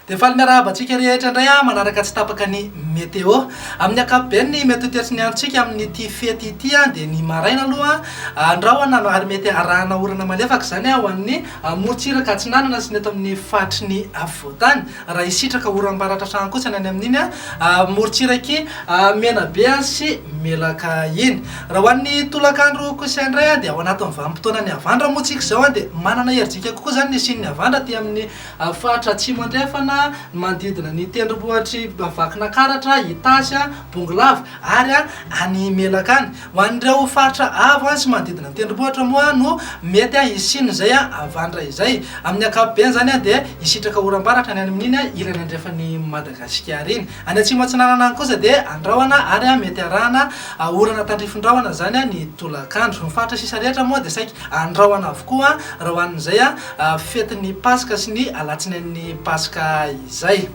Dia faly miarahaba antsika rehetra indray aho manaraka tsy tapaka ny météo. Amin'ny ankapobeny ny mety ho toetra ny androntsika amin'ity fety ity dia ny maraina aloha andrahona ary mety arahana orana malefaka izany ho an'ny morontsiraka atsinanana sy ny eto amin'ny faritry ny afovoantany. Raha hisitraka oram-baratra hatrany kosa ny any amin'iny morontsirak'i Menabe sy Melaka iny. Raha ho an'ny tolakandro kosa indray dia ao anatin'ny vanim-potoanan'ny havandra moa isika izao dia manana herijika kokoa izany ny hisian'ny havandra aty amin'ny faritra Atsimo Andrefana, ny manodidina ny tendrombohitr'i Vakinakaratra, Itasy, Bongolava ary any Melaka any. Ho an'ireo faritra avo sy manodidina ny tendrombohitra moa no mety hisian'izay havandra izay. Amin'ny ankapobeny izany dia hisitraka oram-baratra any amin'iny ilany andrefan'i Madagasikara iny. Any atsimo atsinanana any kosa dia andrahona ary mety harahana orana tandrifin-drahona izany ny tolakandro. Ny faritra sisa rehetra moa dia saika andrahona avokoa raha ho an'izay fetin'ny Paska sy ny alatsinain'ny Paska izay.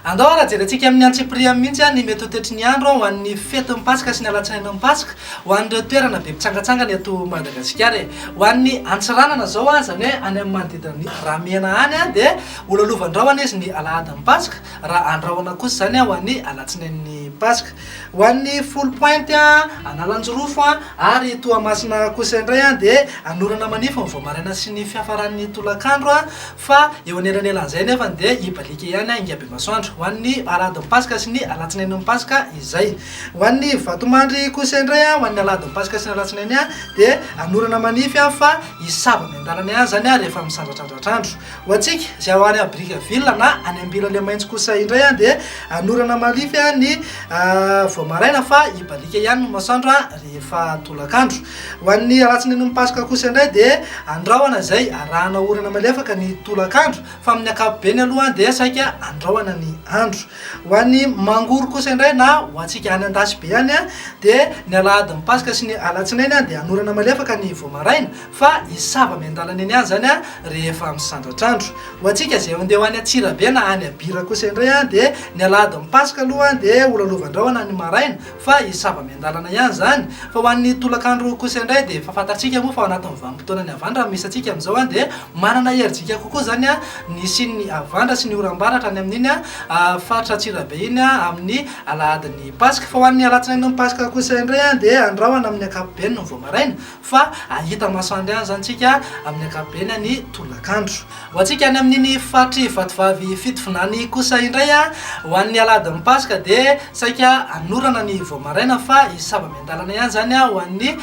Andao ary hajerentsika amin'ny antsipiriany mihitsy ny mety ho toetry ny andro ho an'ny fetin'ny Paska sy ny alatsinain'ny Paska ho an'ireo toerana be mpitsangatsangana eto Madagasikara e! Ho an'ny Antsiranana izao an, izany hoe any amin'ny manodidina ny Ramena any an, dia ho lalovan-drahona izy ny alahadin'ny Paska, raha andrahona kosa izany an ho an'ny alatsinain'ny Paska. Ho an'ny Foulh Pointe an, Analanjirofo an, ary Toamasina kosa indray an, dia hanorana manify ny vao maraina sy ny fiafaran'ny tolakandro an, Fa eo anelanelan'izay anefany dia hibaliaka ihany ny Aingabemasoandro, ho an'ny Aladin'ny Paska sy ny Alatsinain'ny Paska izay. Ho an'ny Vatomandry kosa indray, ho an'ny Aladin'ny Paska sy ny Alatsinainy dia hanorana manify fa hisava amin'ny an-dalana ihany izany rehefa misandratrandratra andro. Ho antsika izay ao any Brickaville na any Ambilalemaintso kosa indray dia hanorana manify ny vao maraina fa hibaliaka ihany ny masoandro rehefa tolakandro. Ho an'ny alatsinenon'ny Paska kosa indray dia andrahona izay arahana orana malefaka ny tolakandro fa amin'ny ankapobeny aloha dia saika andrahona ny andro. Ho an'ny Mangoro kosa indray na ho antsika any Andasibe any dia ny alahadin'ny Paska sy ny alatsinainy dia anorana malefaka ny vao maraina fa hisava miandalana eny ihany izany rehefa misandratr'andro. Ho antsika izay handeha ho any Antsirabe na any Abira kosa indray dia ny alahadin'ny Paska aloha dia holalovan-drahona ny maraina fa hisy sava miandalana ihany izany, fa ho an'ny tolakandro kosa indray dia efa fantatsika moa fa ao anatin'ny vanim-potoanan'ny havandra no misy antsika amin'izao an, dia manana herijika kokoa izany ny hisian'ny havandra sy ny oram-baratra any amin'iny faritra Antsirabe iny amin'ny alahadin'ny Paska, fa ho an'ny alatsinain'ny Paska kosa indray dia andrahona amin'ny ankapobeny ny vao maraina, fa hahita maso andry any izany isika amin'ny ankapobeny any tolakandro. Ho antsika any amin'iny faritry vatovavy Fitovinany kosa indray, ho an'ny alahadin'ny paska dia saika hanorana ny vao maraina fa hisava miandalana ihany izany ho an'ny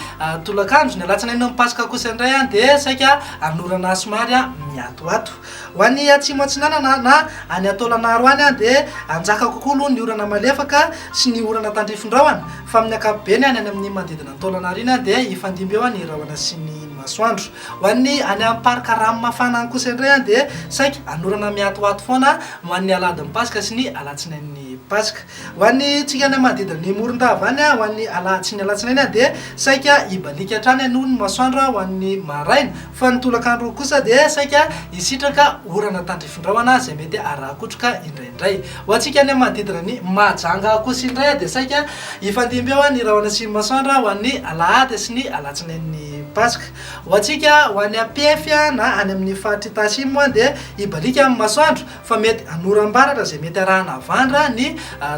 tolakandro. Ny alatsinain'ny paska kosa indray dia saika hanorana somary miatoato. Ho any atsimo atsinanana na any Antolanaro any dia hanjaka kokoa aloha ny orana malefaka sy ny orana tandrifin-drahona fa amin'ny ankapobeny any amin'ny manodidina Taolana aoriana dia hifandimby eo ny rahona sy ny masoandro. Ho an'ny any amin'ny parc rano mafana any kosa indray dia saika hanorana mihatohato foana ho an'ny alahadin'ny paska sy ny alatsinain'ny paska. Ho antsika any amin'ny manodidina ny morondava any, ho an'ny alahady sy ny alatsinainy dia saika hibaliaka hatrany aloha ny masoandro ho an'ny maraina fa ny tolakandro kosa dia saika hisitraka orana tandrifindrahona izay mety haraha-kotroka indraindray. Ho antsika any amin'ny manodidina ny Mahajanga kosa indray dia saika hifandimby eo ny rahona sy ny masoandro ho an'ny alahady sy ny alatsinain'ny Paska. Ho antsika ho any Ampefy na any amin'ny faritr'i Tasim dia hibaliaka amin'ny masoandro fa mety hanoram-baratra izay mety arahana havandra ny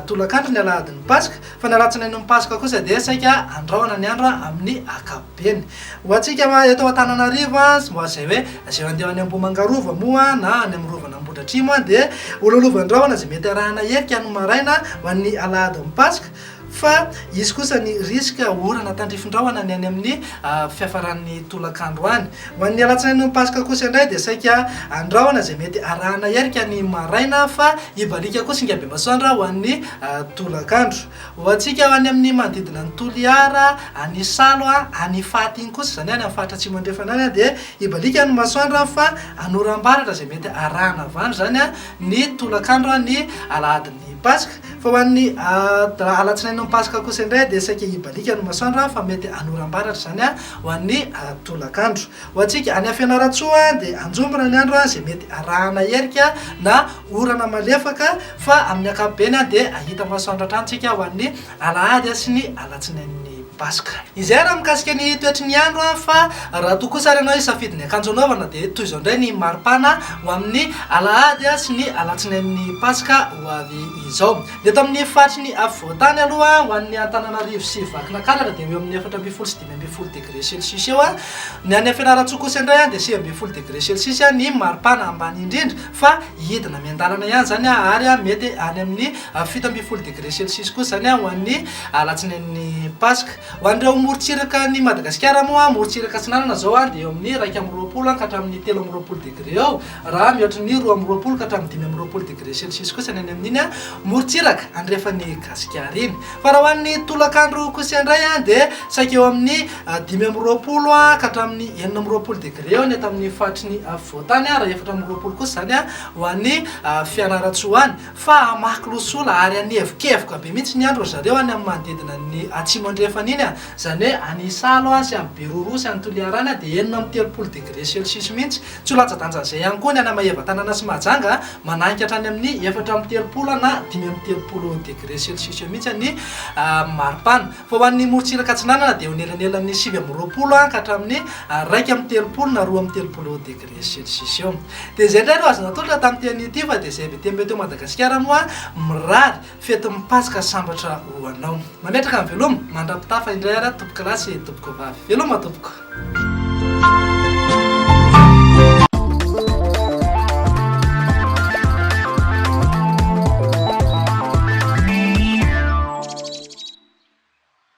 tolakandro ny alahadin'ny Paska fa ny alatsinainin'ny Paska kosa dia saika handrahona ny andro amin'ny ankapobeny. Eny. Ho antsika eto Antananarivo sy mboa izay hoe izay handeha any Ambohimangarova moa na any amin'ny Rovan'i Ambohidratrimo dia hololovan-drahona izay mety arahana herika ny maraina ho an'ny alahadin'ny Paska fa hisy kosa ny risque orana tandrifin-drahona ny any amin'ny fiafaran'ny tolakandro any. Ho an'ny alatsinain'ny Paska kosa indray dia saika andrahona izay mety arahana herika ny maraina fa hibaliaka koa singa bemasoandro ho an'ny tolakandro. Ho antsika any amin'ny manodidina an'i Toliara, any Isalo, any Ifaty iny kosa, izany hoe any amin'ny faritra Atsimo Andrefana any, dia hibaliaka ny masoandro fa hanoram-baratra izay mety harahana avy any izany ny tolakandro ny alahadin'ny Paska. Fa ho an'ny alatsinain'ny Paska kosa indray dia saika hibaliaka ny masoandro fa mety hanoram-baratra izany ho an'ny tolakandro. Ho antsika any Fianarantsoa dia hanjombona ny andro izay mety arahana erika na orana malefaka fa amin'ny ankapobeny dia hahita masoandro hatrany isika ho an'ny alahady sy ny alatsinain'ny Paska. Izay raha mikasika ny toetry ny andro fa raha toa kosa ary ianao hisafidy ny akanjo hanaovana dia toy izao indray ny maripana ho amin'ny alahady sy ny alatsinain'ny Paska ho avy izao. Ny eto amin'ny faritry ny afovoan-tany aloha ho an'ny Antananarivo sy Vakinakaratra dia eo amin'ny efatra ambin'ny folo sy dimy ambin'ny folo degré celsius eo an, ny any Fianarantsoa kosa indray an dia sivy ambin'ny folo degré celsius an ny maripana ambany indrindra fa hidina miandalana ihany izany an ary an mety any amin'ny fito ambin'ny folo degré celsius kosa izany an ho an'ny alatsinain'ny paska. Ho an'ireo morontsiraka an'i Madagasikara moa an, morontsiraka atsinanana izao an dia eo amin'ny iraika amby roapolo an ka hatramin'ny telo amby roapolo degré eo Raha mihoatra ny roa amby roapolo ka hatramin'ny dimy amby roapolo degré celsius kosa ny any amin'iny morontsiraka andrefan'i Gasikara iny. Fa raha ho an'ny tolakandro kosa indray dia saika eo amin'ny dimy amby roapolo ka hatramin'ny enina amby roapolo degré eo ny eto amin'ny faritry ny afovoantany ary efatra amby roapolo kosa izany ho any Fianarantsoa any. Fa hamaky losola ary hanevokevoka be mihitsy ny andro ry zareo any amin'ny manodidina ny atsimo andrefana iny, izany hoe any Isalo sy any Beroroha sy any Toliara any dia enina amby telopolo degré celsius mihitsy Tsy ho latsa-danjan'izay ihany koa ny hanamahevan-tanàna sy Mahajanga mananika hatrany amin'ny efatra amby telopolo na dimy amby telopolo degre celsius eo mihitsy ny maripana. Fa ho an'ny morontsiraka atsinanana dia eo anelanelan'ny sivy amby roapolo ka hatramin'ny iraika amby telopolo na roa amby telopolo degre celsius eo. Dia izay indray no azo natolotra tamin'ity anio ity fa dia izay be dia be teo Madagasikara moa mirary Fetin'ny Paska sambatra ho anao. Mametraka ny veloma, mandra-pitafa indray ary aho tompoko lahy sy tompoko vavy. Veloma tompoko.